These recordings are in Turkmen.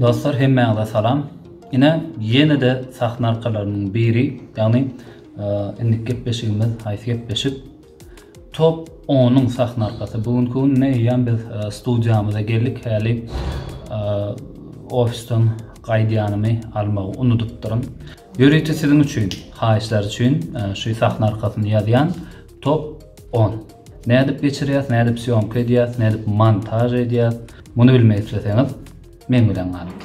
Dostlar hemmäňize salam. Ine ýene-de sahna arkalaryndan biri, ýagny indiki gepleşigimiz haýsy gepleşik? Top 10-yň sahna arkasy. Bu günki gün ne ýan biz studiýamyza geldik häli ofisden gaýdýanymy almagy unudypdyryn. Ýörite siziň üçin, haýyşlar üçin şu sahna arkasyny ýazýan. Top on. Nädip geçirýäs, nädip sýomka edýäs, nädip montaž edýäs, muny bilmek isleseňiz, meň bilen galyň.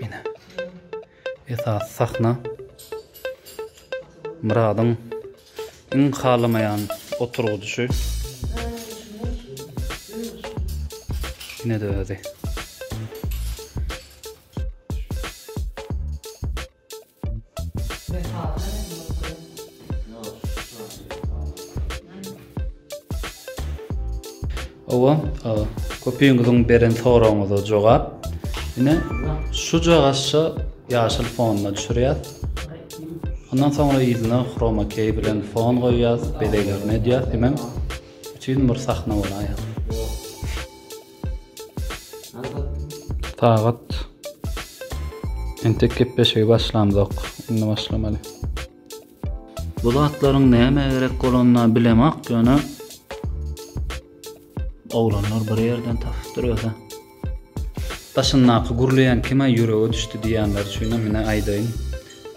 Ine. Esas sahna. Myradyň iň halamaýan oturgydyşy. Ine de özi. Hawa, köpüňiziň beren soragyňyza jogap. Ine, şujagaşça ýaşyl fonuna düşürýäs. Ondan soňra ýüzüne chroma key bilen fon goýýas, bezeglerini edýäs, hemem üçin bir sahna bolaýýar. Sagat entek gepleşigi başlamzok. Indi başlamaly. Bu zatlaryň nämä gerek bolanyny bilemok, ýöne oglanlar bir ýerden tapyp durýar. Başyndaky gürleýän kime ýürege düşdi diýýänler üçinem mine aýdaýyn.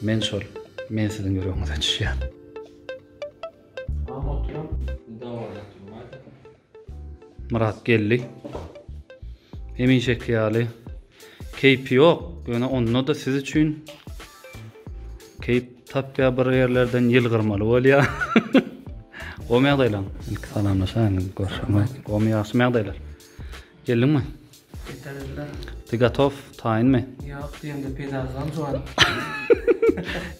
Men şol. Men siziň ýüregiňize düşýän. Myrat geldi. Hemişeki ýaly keýpi ýok, ýöne onda-da siz üçin keýp tapýar bir ýerlerden ýylgyrmaly bolýar. Gomy ýagdaýlaň? Ilki salamlaşaýyň, görşüňiz. Gomy ýagşy ýagdaýlar. Geldiňmi? Getirdiler. Ty gotow, taýynmy? Ýok, diýende peýdasyzam juwan.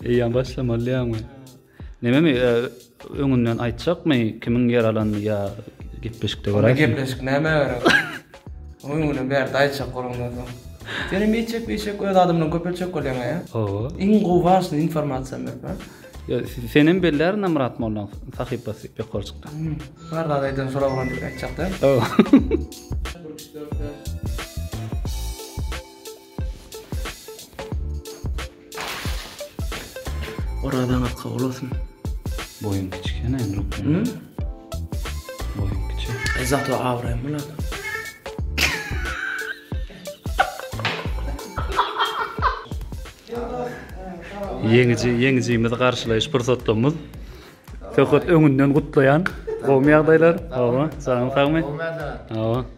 Eýýäm başlamalydyýaňmy? Nememi öňünden aýtjakmy kimiň ýer alanyny ýa gepleşikde görersiň. Onda gepleşik nämä gerek? Onuň bilen bärde aýtjak bolandan soň. Sen hem eýtjek beýtjek öz adamlaryňy köpeltjek bolýaň ä? Hawa. Iň gowy wažnyý informasiýa berme. Ýa sen hem bellärn a Myrat mollaň sahypasy pekolçykda. Bar zat aýdan şol oglan diýip aýtjak däl. Hawa. Orazaňyz kabul bolsun. Boýun kiçik ene lukman. Hı? Boýun kiçik. E zato awraýym bular. Ýeňiji, ýeňijimizi garşylaýyş pursatlarymyz. Söhbet öňünden gutlaýan. Gowymy ýagdaýlar? Hawa, janyň sagmy? Hawa.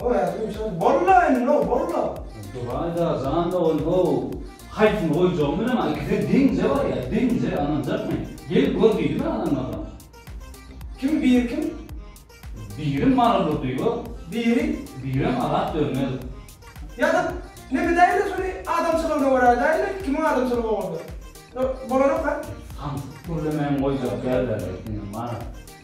Oý ädim şol bolla indi no bolla. Duraýda jan dogan how haýsyny goýjagymy bilemok ikisem deňje barýa deňje ynanjakmy gel gör diýdi bir adam adam. Kim biri kim? Biri Mary Durdyýew. Biri? Birem Azat Dönmezow. Ýa-da men edäýin-le şony adamçylygyna görä edäýin-le kimiň adamçylygy bolsa. Bolanok-a. Samsyk gürlemäni goýjak däldir indi Marat.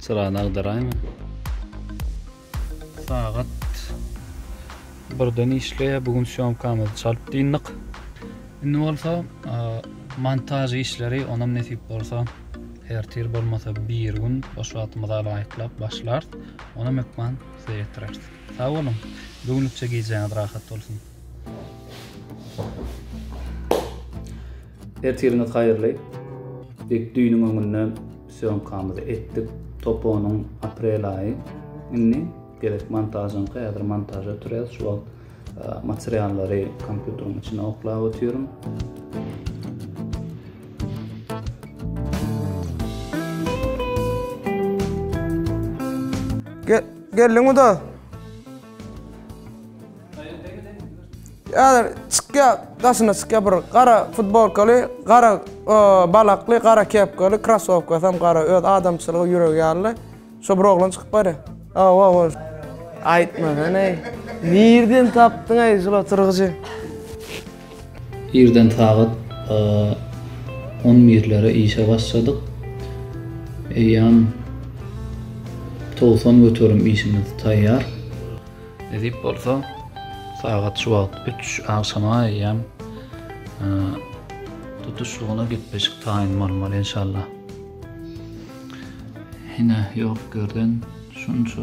Çyrany agdaraýma. Sagat birden işleýär. Bu gün syýomkamyzy çalyp dyndyk. Indi bolsa montaž işleri onam nesip bolsa ertir bolmasa bir gün boş wagtymyzy alaýyklap başlar. Onam hökman size ýetireris. Sag boluň. Bu günlükçe gijäňiz rahat bolsun. Ertiriňiz haýyrly! Dek düýnüň öňünde sýomkamyzy etdik. Toponyň aprel aýy indi. Gerek montažyňky, häzir montaž ötürýäs. Şu wagt materiallary kompýuteriň içine oklap otyryn. Geldiňmi dos? Häzir çykýar, daşyna çykýar bir gara futbolkaly, gara balakly, gara kepkaly, krossowkasy hem gara, öz adamçylygy, ýüregi ýaly. Şo bir oglan çykyp barýar. Hawa-hawa. Aýtmasana-aý. Nirden tapdyň-aý şul oturgyjy? Irden sagat on birlere işe başladyk. Eýýäm togsan göterim işimiz taýýar. Nesip bolsa, sagat şu wagt üç agşama eýýäm tutuşlygyna gepleşik taýyn bolmaly, enşalla. Hine, ýok ýerden şunça.